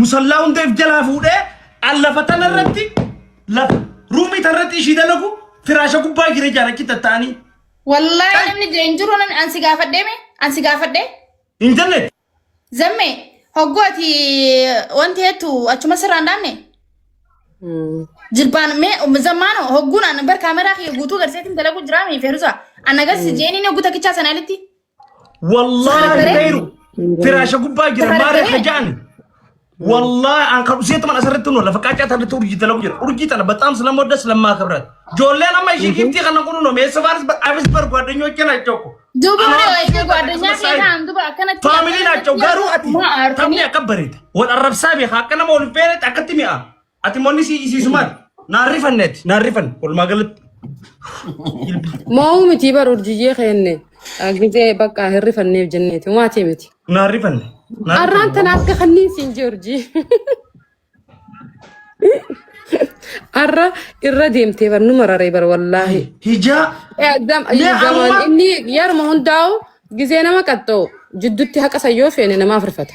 Musallaa hundeef jalaa fuudhee an lafa tana irratti lafa ruumii tana irratti ishii dalagu firaasha gubbaa jira jaarachi tatta'anii. Wallaahi namni jee hin jiru namni ansi gaafadhee mee ansi gaafadhee Intarneet zammee hogguu ati wanti heettu achuma sirraan dhaanne jilbaan mee zammaano hogguun an bar kaameraa kiyya guutuu garseetiin dalagu jiraa mee feerusa an agarsi jeeniin hogguu takkichaa sana alitti Wallaahi Saafiree? beeru firaasha gubbaa jira Saafiree? maaree hajaan. Wallaahi an kan usee taman asirratti nu lafa qaacaa tanatti urjii talagu jira. Urjii tana bataam silamoo das lammaa kabrat. Joolleen amma ishii giiftii kana kun nu meessa faanis abis bar gwaadanyoo kenna jechoko. Duuba Anaa hoo ishee gwaaddanyaa akkasumas keessa an duba akkanatti. Faamiliin achoo garuu ati Maa aartanii? taphni akka bareeda. Wal arrabsaa beekaa akka nama wal beeretti akkatti mi'a. Ati monni si isiisumaan naan rifanne ati naan rifan walumaa galatti. Moo'uu miti bar urjiyyee keenne gizee bakka hin rifanneef jenneeti maatii miti. Naan rifanne. naan Arraan rifanne. tana akka kanniin siin jee urjii. Arra irra deemtee bar nu mararee bar wallaahi. Hijaa. Eh, gam- Mee gamaan amma- Inni yeruma hundaa'u gizee nama qaxxa'u jidduutti haqa sayyoo feene namaaf rifata.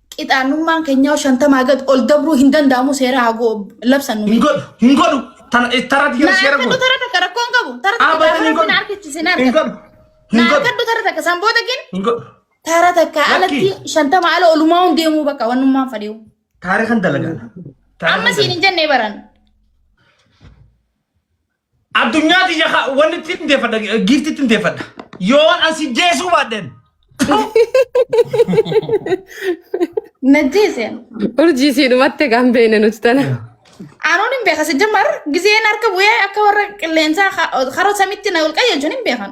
qixaannummaan keenyaa shantamaa gad ol dabruu hin danda'amu seera haa goo labsannu. Hin godhu. Hin godhu. Tana tarratti Na gara seera harkadhu godhu. tara takka rakkoon qabu. Tara takka Abadan hin gaafa godhu. na harkachise na Hin harkadhu. godhu. Na Hin godhu. harkadhu tara takka san booda gin Hin godhu. tara takka Lakki. alatti shantama ala olumaa hun deemuu bakka wannummaan fadhiyu. Taarikan dalagaan. Amma siin hin jennee baran. Addunyaa tiyya ka- wanni itti hin deeffadha giifti itti hin deeffadha. Yoon an si jeesuu baadheen. Najjeese. Urjii sii dhumatte kan beene nuti tana. Anuun hin beekan sijjamar gizeen harka bu'ee akka warra qilleensaa ka- karoo samitti na ol qayyaachuun hin beekan.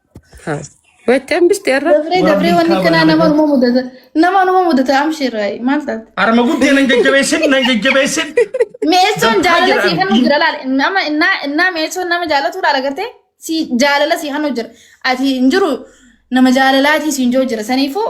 Waccan biste irra. Dabree dabree wanni kanaa nama numa mudata. Nama numa mudata amshirraa maal taate? Arma guddee nan jajjabeessin nan jajjabeessin. Meessoon jaalala sii hannu jira laal. Nama innaa innaa meessoon nama jaalatu laal agartee sii jaalala sii hannu jira. Ati hin jiru nama jaalalaatii siin jiru jira. Saniifuu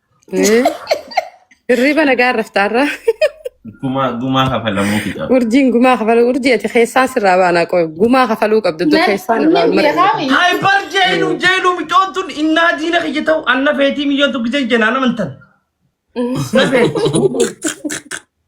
Eh, Hirriba nagaa raftaarra. Gumaa gumaa kafalamuu fixaa. Urjiin gumaa kafaluu urjii ati keessaa sirraa baanaa qoy gumaa kafaluu qabdu tu keessaa nurraa Nin mara. beekaami. Hayi bar jeenu jeenu micoon tun innaa diina kiyya ta'u anna feetii miyyoon tokkicha jenaan amantan. Na feeti.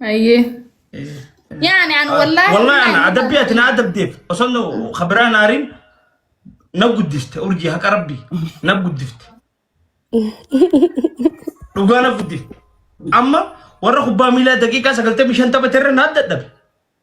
Ayyee. Yaani an wallaahi. Wallahi ana adabbii ati na adabdeef osoo na kabiraa naariin na guddifte urjii haqa rabbii na guddifte. Dhugaa na guddifte. Amma warra kubbaa miilaa daqiiqaa sagaltamii shan taphate irra na dadhabe.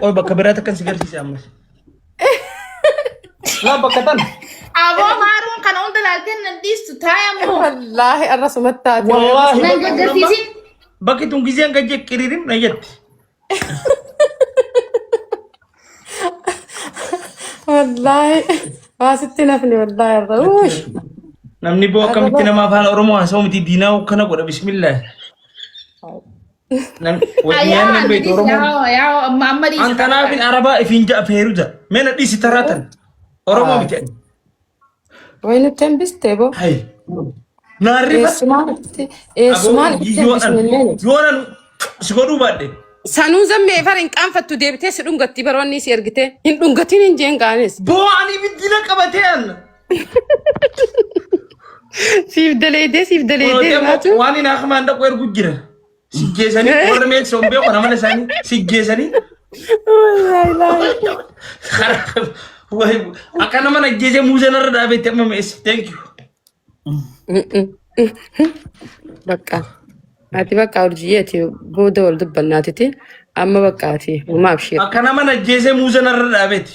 Qoy bakka biraatti akkan si garsiise ammas. Laa bakka tan. Aboo maaruun kana hunda laaltee nan dhiistu taa'e moo. Wallaahi arra sumatti taate. Wallaahi. Nan gaggarsiisin. Bakki tun gizeen gajje qiriirim na jetti. Wallaahi. Waa sitti nafni wallaahi arra. Uush. Namni boo akkamitti namaaf haala Oromoo haasa'u miti diinaa kana godha bismillah. Nyaanni beektu Oromoon. An kanaaf arabaa ifiin ja'a feeruja. Mena dhiisi taraatan. Oromoo miti. Way nutti hambiste boo. Hayi. Naarri Eessumaan itti eessumaan itti hambisnillee. Yoonan si godhuu baadhe. Sanuu zammee fara hin qaanfattu deebitee si dhungatti baroonni si ergitee hin dhungatiin hin jeen gaanis. Boo ani ibiddina qabatee anna. Siif daleedee siif daleedee laatu. Waan hin akmaan dhaqu ergu jira. Sijjeesanii warra meeksoo hin beeku amala isaanii sijjeesanii akka nama ajjeesee muuzee narra dhaabeetti amma meessa. Thank you. Bakka. Ati bakka urjii ati booda wal dubbannaatiti amma bakka ati umaaf shee. Akka nama ajjeesee muuzee narra dhaabeetti.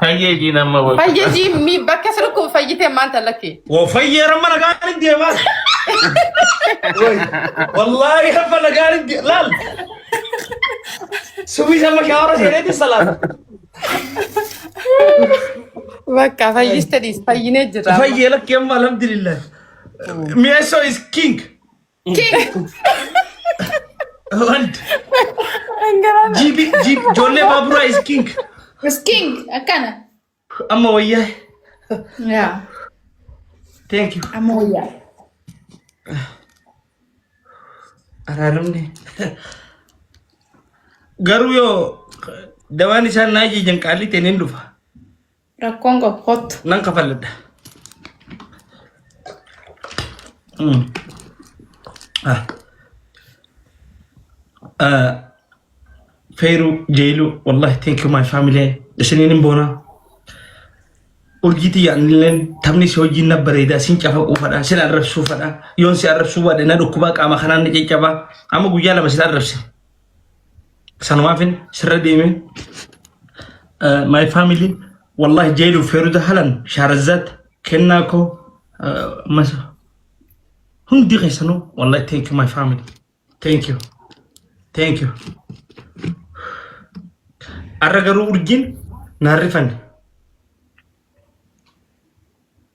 Fayyee jiin amma wal. Fayyee jiin mi bakka sirkuu fayyitee maanta lakki. Woo fayyee ramma nagaan deemaa. Wallaahi hamma nagaan laal. Subii sama shaawara seeneeti salaata. Bakka fayyiste dhiis fayyinee jira. Fayyee lakki amma alhamdulillah. Mi'eessoo is king. Wand. Dhangala'aa. Jiibi jiib ijoollee baaburaa is king. Is king akkana. Amma wayyaa. Yaa. Thank you. Amma wayyaa. Araaramne. Garuu yoo dawaan isaan naa jijjiiran qaalii ta'een hin dhufa. Rakkoon qabu kottu. Nan kafalladha. Mm. Ah. Ah. Feeru jeelu wallahi thank you my family isiniin hin boona. Urjiitii yaadnileen taphni si hojiin na bareeda sin cafaquu fadha sin arrabsuu fadha yoon si arrabsuu baadhe na dhukkubaa qaama kanaan na caccabaa amma guyyaa lama sin arrabse sanumaafin sirra deeme my family wallahi jeedu feeruda halan shaarazat kennaa koo mas hundi keessanu wallahi thank you my family thank you thank you arra garuu urjiin naan rifanne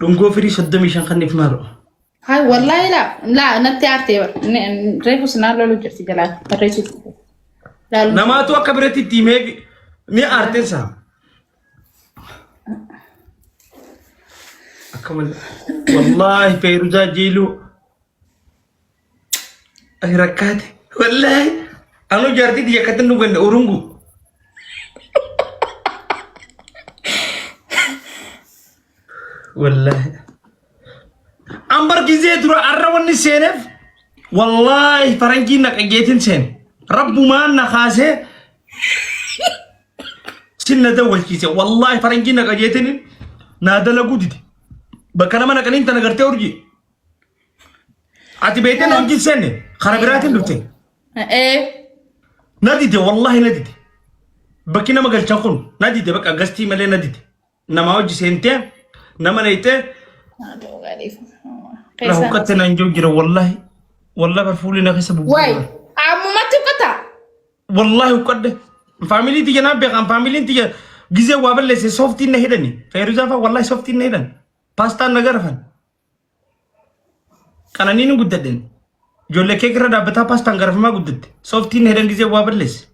Dhungoo firii 35 kan if maaro. Hai wallahi la la natti aartee bar. Ne- n- Reefu sinaan loluu jirti jalaa barreessuu jirti. Laaluu. Namaatu akka biratti itti himee ni aarteen saa. Akka malee. Wallaahi Feeruzaa Jiiluu. Ani rakkaate. Wallaahi. Anu jaartii biyya akkatti nu ganda urungu. Wallaahi. An bargisee dura arra wanni seeneef wallaahi faranjii naqageetiin seen. Rabbumaan na kaasee sin na dawwalchiise. Wallaahi faranjii naqageetiin naa dalaguu dide. Bakka nama naqaniin tana gartee urjii. Ati beekte na wajjin seenne karaa biraatiin dhufte. Ee. Na dide wallahi na dide. Bakki nama galchan kun na dide bakka gastii malee na dide. Nama wajji seentee nama leeytee na huqqatte na hin jiru jira wallahi. Wallahi bar fuulli na keessa Wayi. bubbulaa. Ammumatti uffata. Wallahi huqqadde. Faamilii tiyya naa beekan faamiliin tiyya gizee waa balleesse sooftiin na hidhani. Feeruuzaa fa'aa wallahi sooftiin na hidhan. Paastaan na garafan. Qananii ni guddadden. Ijoollee keek irra dhaabbataa paastaan garafamaa guddatte. Sooftiin hedan gizee waa balleesse.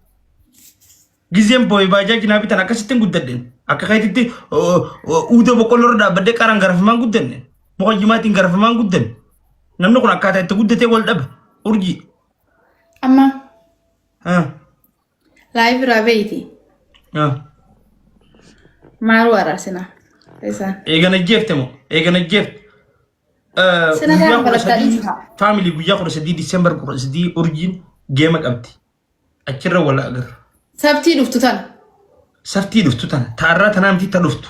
Gizeen boo'ee baajaaji naa bitan akkasittiin guddadden. Akka keetitti uuda boqqolloo irra dhaabbadde qaraan garafamaan guddanne. Muka jimaatiin garafamaan guddanne. Namni kun akkaataa itti guddatee wal dhaba. Urjii. Amma Ah. Live irraa beeyti. Ah. Maaruu araarsinaa. Isaan. Eegan ajjeefte moo? Eegan ajjeefte. Eh, Sina guyyaa gaafa kudha balakkaa sadii- dhiisa. Family guyyaa kudha sadii December kudha sadii urjiin geema qabdi. Achirra wal agarra. Sabtii dhuftu tana. Saftii dhuftu tana. Taarraa tanaa miti ta dhuftu.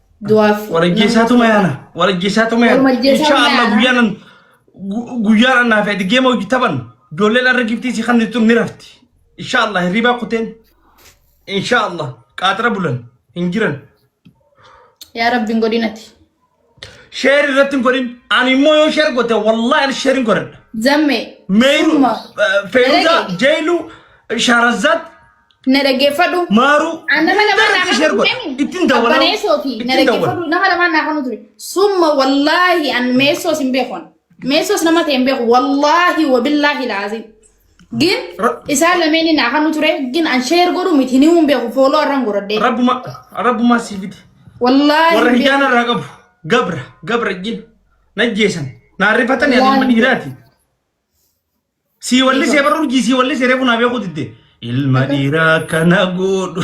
Du'aaf. Walajjeessaatuma yaana. Walajjeessaatuma yaana. Walajjeessaatuma Insha Allah yaana. guyyaan gu- guyyaan annaa fi adigee moo taban ijoolleen arra giftii si kan tun ni rafti. Insha Allah hirribaa kuteen. Insha Allah qaaxira bulan hin jiran. Yaa rabbiin godinati. Sheer irratti hin godhin. Ani immoo yoo sheer goote wallahi ani sheer hin godhadha. Zammee. Meeru, Dhuma. Feeruza, Dalage. Jeelu, Shaarazzaat, Na dhaggeeffadhu. Maaruu. An nama lamaan naa Ishee kanu godha. ture. Ittiin dawwalaa. Abbaneessooti. Na Ittiin dawwala. dhaggeeffadhu. Nama lamaan naa kanu ture. Summa wallaahi an meessoos hin beekon. Meessoos nama ta'e hin beeku. Wallaahi wabillaahi laaziim. Gin Ra- isaan lameeni naa kanu ture. Gin an sheer godhu miti ni hin beeku. Fooloo arran goradhee. Rabbuma rabbumaa sii fide. Wallaahi Warra hin beeku. hijaana irraa qabu. Gabra gabra jin. Najjeesan. Naarrifatanii ati ilma dhiiraati. Sii wallisee barra urjii sii wallisee reefu naa beekuu didde. Ilma dhiiraa kana godhu.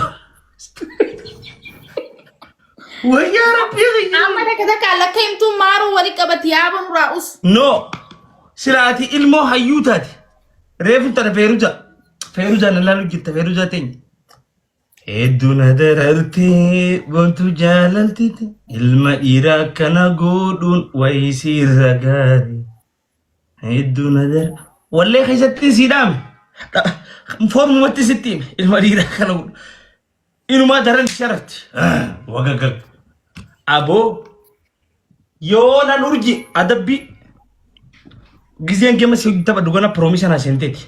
Wayyaa rabbii kiyya. Amma takka takka lakka himtuu maaruu wali qabati yaaba nuraa us. No. Sila ati ilmoo hayyuu taate. Reefu tana feeruja. Feeruja na laalu jirta feeruja teenya. Hedduu na darartee bontu jaalaltiti. Ilma dhiiraa kana godhuun wayii siirra gaarii. Hedduu na dara. Wallee keessatti sii dhaame. Foormumatti sitti hime. Ilma dhiiraa kana godhu. Inumaa daran sharafti. Wagagag. Aboo yoo nan urji adabbii giseen gama si taphadhu gana piroomisana seenteeti.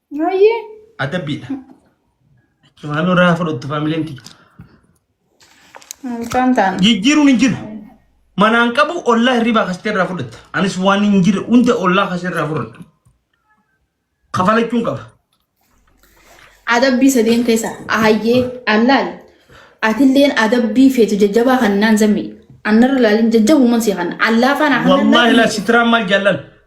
Hayyee. Adabbiidha. Maaloo irraa fudhattu faamileen tiyya. Mucaan taana. Jijjiiruun hin jiru. Manaan qabu ollaa hirribaa kasitee irraa fudhatta. Anis waan hin jire hunda ollaa kasee irraa fudhadha. Kafalachuun qaba. Adabbii sadeen keessa ahayyee allaal atilleen adabbii feetu jajjabaa kan naan zammi annarra laalin jajjabuuman si kan allaa faana kan Wallaahi laa sitiraa maal jaallan.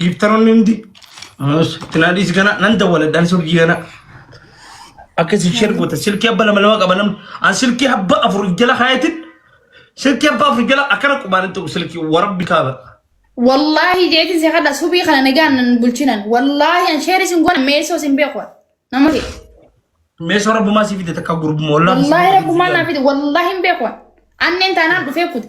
dhiibtanoonni hundi tinaadhiis kana nan dawwaladhaan surgii kana akka isin sheer goota silkii abba lama lama qaba namni an silkii abba afur jala kaayatin silkii abba afur jala akkana qubaan hin ta'u silkii warabbi kaaba Wallaahi jeetiin si kadha subii kana nagaan nan bulchinan. Wallaahi an sheeri sin goona meesoo sin beeku. Nama fi. meesoo rabbumaa sii fide takka gurbuma wallaahi Wallaahi rabbumaa naa fide wallaahi hin beeku. Anneen taanaan dhufee kute.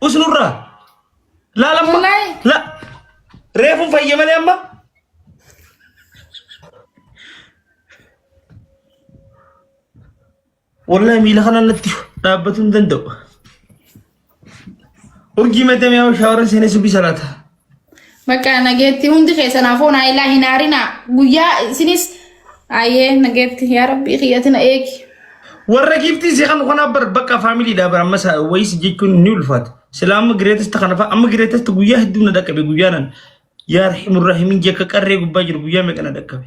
Us nurraa. Laal amma. Wallahi. La. Reefu fayye malee amma. Wallahi miila kana natti dhaabbatu hin danda'u. Urjii meetamee shaawara seenee subii salaata. Bakka nageetti hundi keessan afoo naa ilaa hin haarinaa guyyaa isinis ayee nageetti yaa rabbii kiyyatina eegi. Warra giiftii si kan kanaaf bar bakka faamilii dha bar ammas wayis jechuun ni ulfaata. Silaa amma gireetesta kana fa'a amma gireetesta guyyaa hedduu na dhaqqabe guyyaa nan yaa rahimu rahimin jekka qarree gubbaa jiru guyyaa meeqa na dhaqqabe.